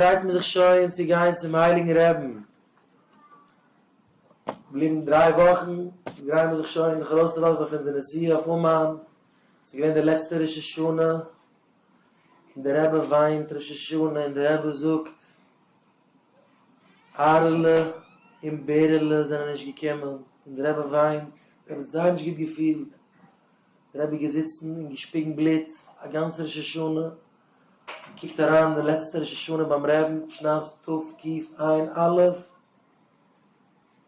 פרייט מען זיך שוין צו גיין צום הייליגן רעבן, געבליבן דריי וואכן גרייען מיר זיך שוין זיך ארויסצולאזן אויף אונזער נסיעה אויף אומאן, ס'איז געווען די לעצטע ראש השנה און די רבי וויינט ראש השנה און די רבי זאגט אהרעלע און בערעלע זענען נישט געקומען און די רבי וויינט, ער האט זייער נישט גוט געפילט, די רבי איז געזיצן און געשפיגן בלוט א גאנצע ראש השנה, געקוקט אריין די לעצטע ראש השנה ביים רעבן שנת תקע עין א', און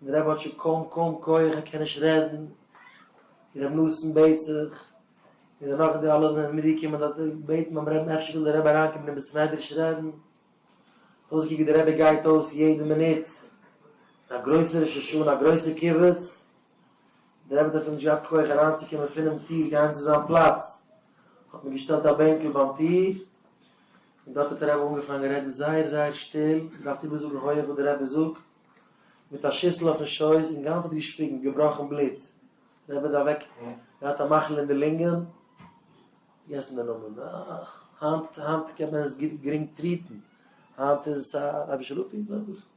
די רבי האט שוין קוים קוים כח ער קען נישט רעדן, און רבי נתן בעט זיך, און דערנאך די אלע זענען מיטגעקומען דארט בעטן ביים רעבן אפשר וויל די רבי אריינקומען אין בית מדרש רעדן, האט אויסגעקוקט ווי די רבי גייט אויס יעדע מינוט, א גרויסע ראש השנה א גרויסע קיבוץ. דער עבד האט אפילו נישט געהאט כח אריינצוקומען פונעם טיר גיין צו זיין פלאץ, האט מען געשטעלט א בענקל ביים טיר, און דארט האט דער רבי אנגעפאנגען רעדן זייער זייער שטיל, געדארפט איבערזאגן הויעך וואס דער רבי זאגט, מיט א שיסל אויפן שויס, און גאנץ האט געשפיגן, געבראכן בלוט, דער רבי האט אוועק געהאט א מחלה אין די לונגען, פארגעסן די נאמען, אך, היינט קען מען עס גרינג טריעטן, היינט איז א אבישלופי, נאר וואס.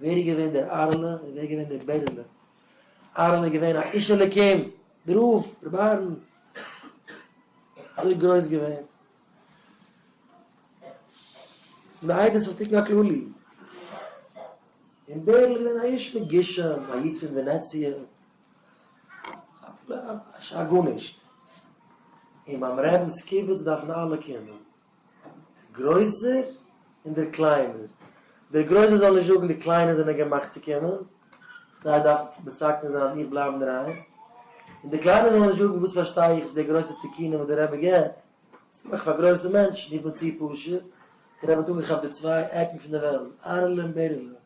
ווער איז געווען דער אהרן'לע און ווער איז געווען דער בערעלע? אהרן איז געווען א איש אלוקים, דער רב, רבי אהרן, אזוי גרויס געווען. פון די עדות פון תיקון הכללי. און בערל איז געווען א איש מגושם, א יצ אין ווענעציע, א גארנישט. און ביים רעבינ'ס קיבוץ דארפן אלע קומען. דער גרויסער און דער קליינער, דער גרויסער זאל נישט זאגן די קליינע זענען געמאכט צו קומען, זיי דארפן מסכן זיין און איך בלייבן אינדערהיים, און די קליינע זאלן נישט זאגן וואס פארשטיי איך צו די גרויסע תיקונים וואס דער רבי געבט, דאס מאכט פאר גרויסע מענטשן, איך בין צו פשוט, דער רבי האט אנגעכאפט די צוויי עקן פון די וועלט, ארעלע און בערעלע,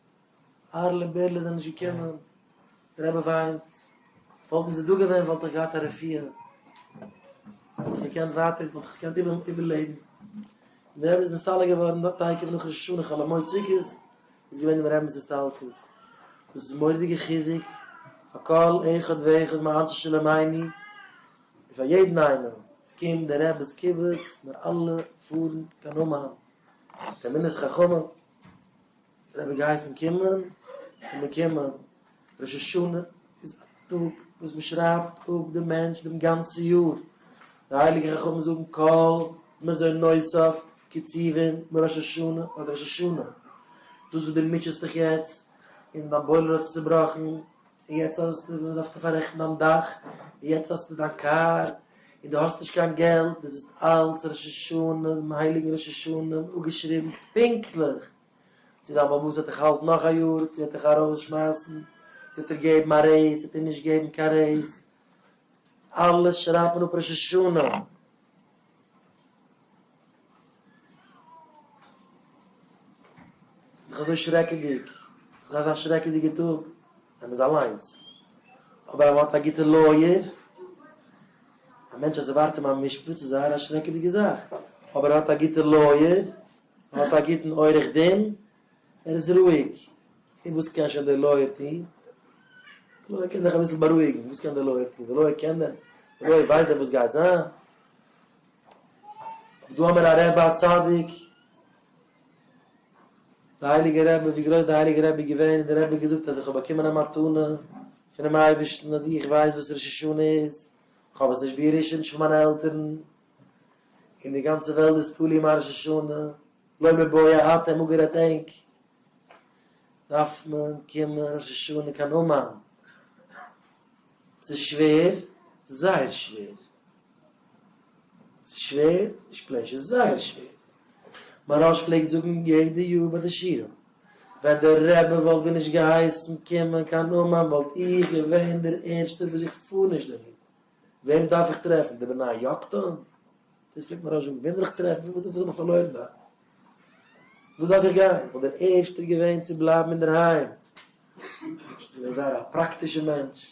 אהר'לע און בער'לע זענען נישט געקומען, דער רבי וויינט, וואלטן זיי דא געווען וואלט איך געהאט א רפואה, וואלט איך געקענט ווייטער, וואלט איך עס געקענט איבערלעבן, און דער רבי איז נסתלק געווארן דארט תיכף נאך ראש השנה חול המועד סוכות איז געווען דעם רבינ'ס הסתלקות, דאס איז מורא'דיגע חיזוק פאר כל אחד ואחד מאנשי שלומינו, און פאר יעדן איינעם, עס קומט דער רבי'ס קיבוץ, מיר אלע פארן קיין אומאן, תלמידי חכמים. זיי האבן געהייסן קומען, און מען קומען, ראש השנה איז א טאג וואס מען שרייבט אפ דעם מענטש דעם גאנצן יאר, די הייליגע חכמים זאגן כל מזון נוסף קצובין בראש השנה אדער ראש השנה, דאס וואס דו מוטשעסט דיך יעצט און דיין בוילער האט זיך צובראכן, און יעצט האסטו דארפסטו פאררעכטן דיין דאך, און יעצט האסטו דיין קאר, און דו האסט נישט קיין געלט, דאס איז אלץ ראש השנה, דעם הייליגן ראש השנה אפגעשריבן פונקטליך צו דיין באבוס וועט דיך האלטן נאך א יאר, צו וועט דיך ארויסשמייסן, צו וועט ער געבן א רעיז, צו וועט ער נישט געבן קיין רעיז, אלעס שרייבט מען אפ ראש השנה. ס'איז דאך אזוי שרעקעדיג, ס'איז דאך אזא שרעקעדיגע טאג ווען מ'איז אליינס, אבער אז מ'האט א גוטע לויער, א מענטש אז ס'ווארט אים א משפט, ס'איז זייער א שרעקעדיגע זאך, אבער ער האט א גוטע לויער, ער האט א גוטן עורך דין, ער איז רואיג, און וואס קען שוין דער לויער טון? דער לויער קען דיך אביסל בארואיגן, וואס קען דער לויער טון? דער לויער קען דען? דער לויער ווייסט דען וואס גייט זיין? דא האבן מיר א רבי א צדיק, די הייליגע רבי, ווי גרויס די הייליגע רבי איז געווען, און די רבי האט געזאגט אז איך האב באקומען א מתנה פונעם אייבערשטן אז איך ווייס וואס ראש השנה איז, איך האב עס נישט בירושה, נישט פון מיינע עלטערן, און די גאנצע וועלט איז תלוי מיין ראש השנה, לא מבאי האט ער אפגערעדט ענק, דארף מען קומען ראש השנה קיין אומאן, ס'איז שווער, זייער שווער. ס'איז שווער? נישט פלעין שווער, ס'איז זייער שווער. מהרא ש פלעגט זאגן יעדע יאר ביי די שיעורים, ווען דער רבי וואלט ווי נישט געהייסן קומען קיין אומאן וואלט איך געווען דער ערשטער וואס איך פאר נישט דערהין. וועם דארף איך טרעפן? די בני יקטן? דאס פלעגט מהרא ש זאגן, וועם וויל איך טרעפן? וואס האב איך פארלוירן דארט? וואס דארף איך גיין? איך וואלט דער ערשטער געווען צו בלייבן אינדערהיים. נישט געווען זייער א פראקטישער מענטש.